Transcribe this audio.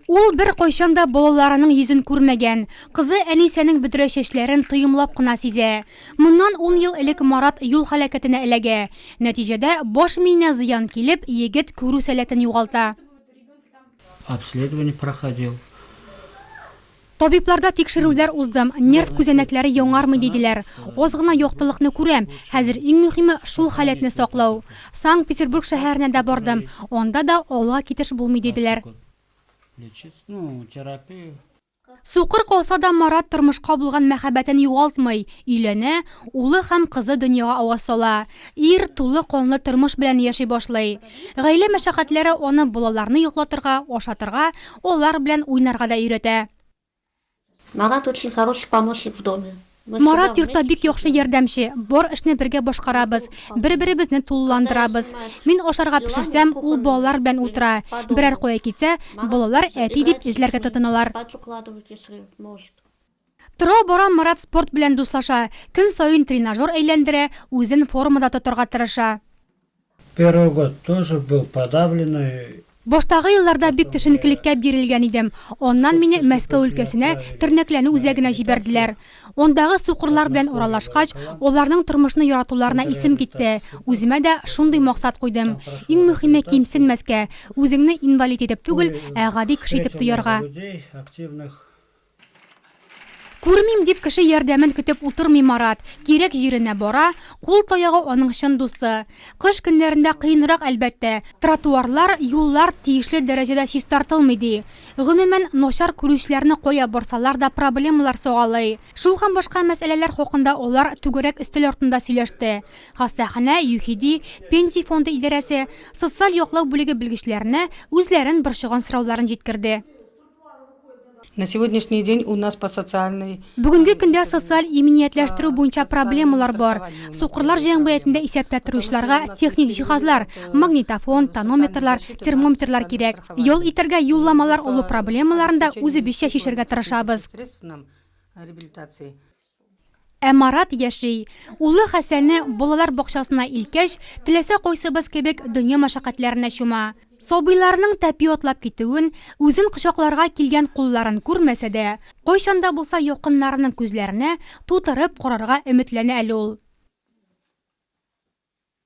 Ул беркайчан да балаларының йөзен күрмәгән. Кызы Әнисәнең бөдрә чәчләрен тоемлап кына сизә. Моннан ун ел элек Марат юл һәлакәтенә эләгә. Нәтиҗәдә, баш миенә зыян килеп, егет күрү сәләтен югалта. Обследование проходил. Табибларда тикшерүләр уздым, нерв күзәнәкләре яңармый диделәр. Аз гына яктылыкны күрәм. Хәзер иң мөһиме, шул халәтне саклау. Санкт-Петербург шәһәренә дә бардым, анда да алга китеш булмый диделәр. Сукыр калса да, Марат тормышка булган мәхәббәтен югалтмый, өйләнә, улы һәм кызы дөньяга аваз сала. Ир тулы канлы тормыш белән яши башлый. Гаилә мәшәкатьләре аны балаларны йоклатырга, ашатырга, алар белән уйнарга да өйрәтә. Марат очень хороший помощник в доме. Марат йортта бик яхшы ярдәмче, бар эшне бергә башкарабыз, бер-беребезне тулыландырабыз. Мин ашарга пешерсәм, ул балалар белән утыра, берәр кая китсә, балалар әти дип эзләргә тотыналар. Тора-бара Марат спорт белән дуслаша, көн саен тренажер әйләндерә, үзен формада тотарга тырыша. Первый год тоже был подавленный. Баштагы елларда бик төшенкелеккә бирелгән идем. Аннан мине Мәскәү өлкәсенә, тернәкләнү үзәгенә җибәрделәр. Андагы сукырлар белән аралашкач, аларның тормышны яратуларына исем китте. Үземә дә шундый максат куйдым. Иң мөһиме кимсенмәскә, үзеңне инвалид итеп түгел, ә гади кеше итеп тоярга. Күрмим дип кеше ярдәмен көтеп утырмый Марат. Кирәк җиренә бара. Кул таягы аның чын дусты. Кыш көннәрендә кыенрак, әлбәттә. Тротуарлар, юллар тиешле дәрәҗәдә чистартылмый, ди. Гомумән, начар күрүчеләрне кая борсалар да проблемалар сагалый. Шул һәм башка мәсьәләләр хакында алар түгәрәк өстәл артында сөйләште. Хастаханә, ЮХИДИ, Пенсия фонды идарәсе, социаль яклау бүлеге белгечләренә үзләрен борчыган сорауларын җиткерде. На сегодняшний день у нас по социальной Бүгенге көндә социаль иминиятләштерү буенча проблемалар бар. Сукырлар җәмгыятендә исәптә торучыларга техник җиһазлар, магнитофон, тонометрлар, термометрлар кирәк. Ял итәргә юлламалар олы проблемаларны да үзебезчә чишәргә тырышабыз. средств нам реабилитации. Ә Марат яши. Улы Хәсәнне балалар бакчасына илткәч, теләсә кайсыбыз кебек дөнья мәшәкатьләренә чума. Сабыйларның тәпи атлап китүен, үзен кочакларга килгән кулларын күрмәсә дә, кайчан да булса якыннарының күзләренә тутырып карарга өметләнә әле ул.